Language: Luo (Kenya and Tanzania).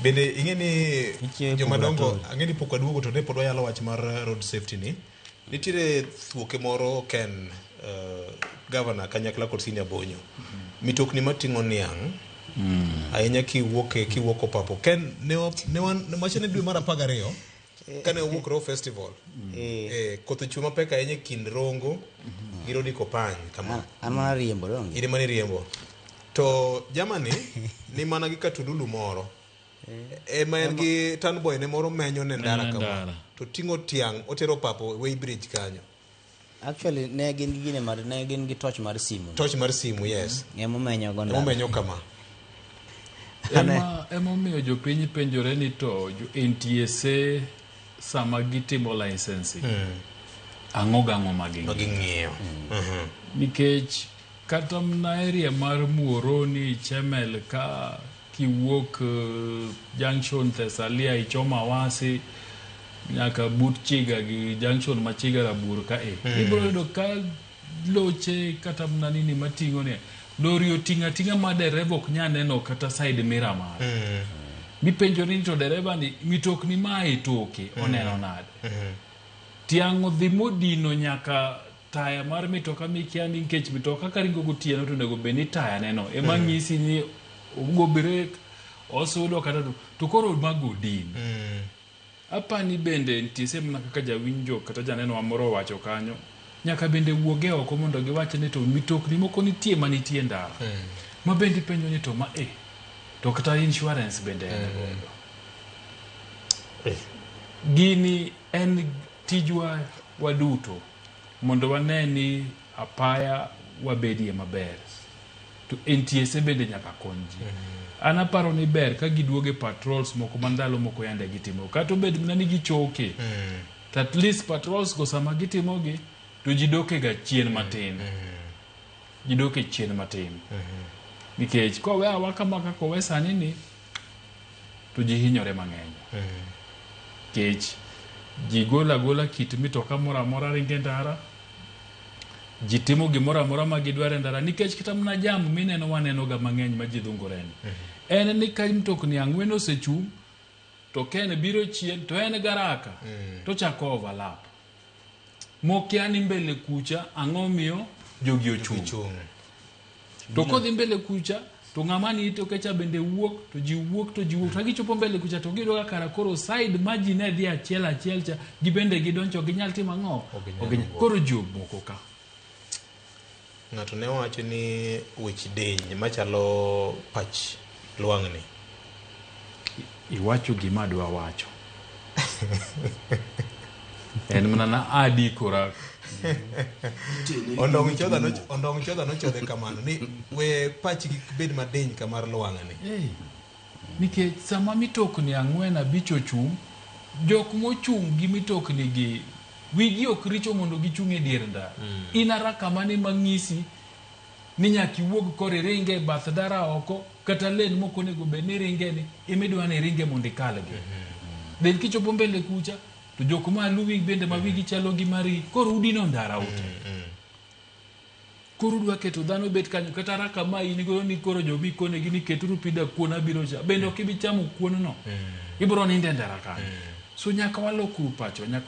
Bende ing'e ni Nitie joma dongo purgatory. ang'e ni pok waduogo to ne pod wayalo wach mar eh, road safety ni. Nitiere thuoke moro ken eh, governor kanyakla kod senior bonyo. Mitokni mating'o niang' ahinya kiwuok e- kiwuok opapo. Ken ne wa- ne wan ne wachane dwe mar 12 kane wawuok row festival Eh, eh, koth ochwe mapek ahinya e kind rongo gi rodi kopany kama an- an mana riembo donge iri mane riembo to jamani ni mana gi katululu moro ema en gi tanboy ne moro menyo ne ndara Menyo kama ndara. to ting'o tiang' otero papo way bridge kanyo Actually ne gin gi gine mar ne gin gi torch mar simu. Torch mar simu yes. Mm. Emo menyo go ndalo. Emo menyo kama. Ema emo miyo jopiny penjore ni to jo NTSA sama gitimo licensing. Mm. Ang'o gang'o ma ging'iyo. Ma ging'iyo. Mm. Mm-hmm. Nikech Kata mna area mar Muoroni, Chemel ka kiwuok junction Thesalia ichomo Awasi nyaka but Chiga gi junction ma Chiga Rabuor ka e. Ibiro yudo ka loche kata mna nini mating'o ni lori oting'o ating'a ma dereva ok nyal neno kata side mirror mare. Mipenjo ni to dereva ni mitokni ma e toke oneno nade? Tiang' odhi modino nyaka taya mar mitoka mikia ni nikech mitoka ka ringo gotieno to onego bed ni taya neno ema mm. nyisi ni ogo brek osudo kata to, to koro mago odin mm. apani bende nitie sehemu na kaka jawinjo kata janeno amoro wacho kanyo nyaka bende wuoge oko mondo giwache ni to mitokni moko nitie ma nitie ndara mm. ma bende ipenjo ni to ma e eh, to kata insurance bende mm. en godo eh. gini en Tijwa waduto mondo wane ni apaya wabedie maber to NTSA bende nyaka kony ji. An aparo ni ber ka giduogo e patrols moko ma ndalo moko yande gitimo kata obed mana ni gichoke to at least patrols go sama gitimogi to ji dokega chien matin ji doke chien matin nikech kowe awa kama kaka owe sani ni to ji hinyore mang'eny kech ji golo agola kit mitoka moro amora ringo e ndara ji timo gimoro amora ma gidwaro e ndara nikech kata mana jam mineno wanenoga mang'eny ma ji dhungoreni en ni ka mtokni ang'wen osechung' to ken biro chien to en garaka to chako overlap mokia ni mbele kucha ang'o miyo jogi ochung' Chung'. to kodhi mbele kucha to ng'ama ni itoke cha bende wuok to ji wuok to ji wuok to gichopo mbele kucha to giyudo ka kara koro side ma ji ne dhi achiel achiel cha gibende gidonjo ok ginyal timo ang'o Ok ginyal Ok ginyal- wuok. koro ji omoko ka Ng'ato ne wacho ni wich diny machalo pach lwang'ni. Iwacho gima adwa wacho. en mana na adikora ondong' chodha no ondong' chodha no chodhe kamano ni we pach kik bed madiny kamar lwang'ni Nikech sama mitokni ang'wen abich ochung', jok mochung' gi mitoknigi wigi ok richo mondo gichung' e dier ndara. In araka mane ma ng'isi ni nyaka iwuog kor iring e bath ndara oko kata lane mok onego bed ni iringeni ema idwa ni iringe mondo ikalgi. Then kichopo mbele kucha to jok maluwi bende ma wigi chalo gi mari koro udino ndara ute. Koro udwa keto dhano obet kanyo kata raka ma in godo ni koro jo mikonegi ni keturu pi da kuon abiro cha bende ok ibi chamo kuon no ibiro nindo e ndara kanyo so nyaka walokru pacho nyaka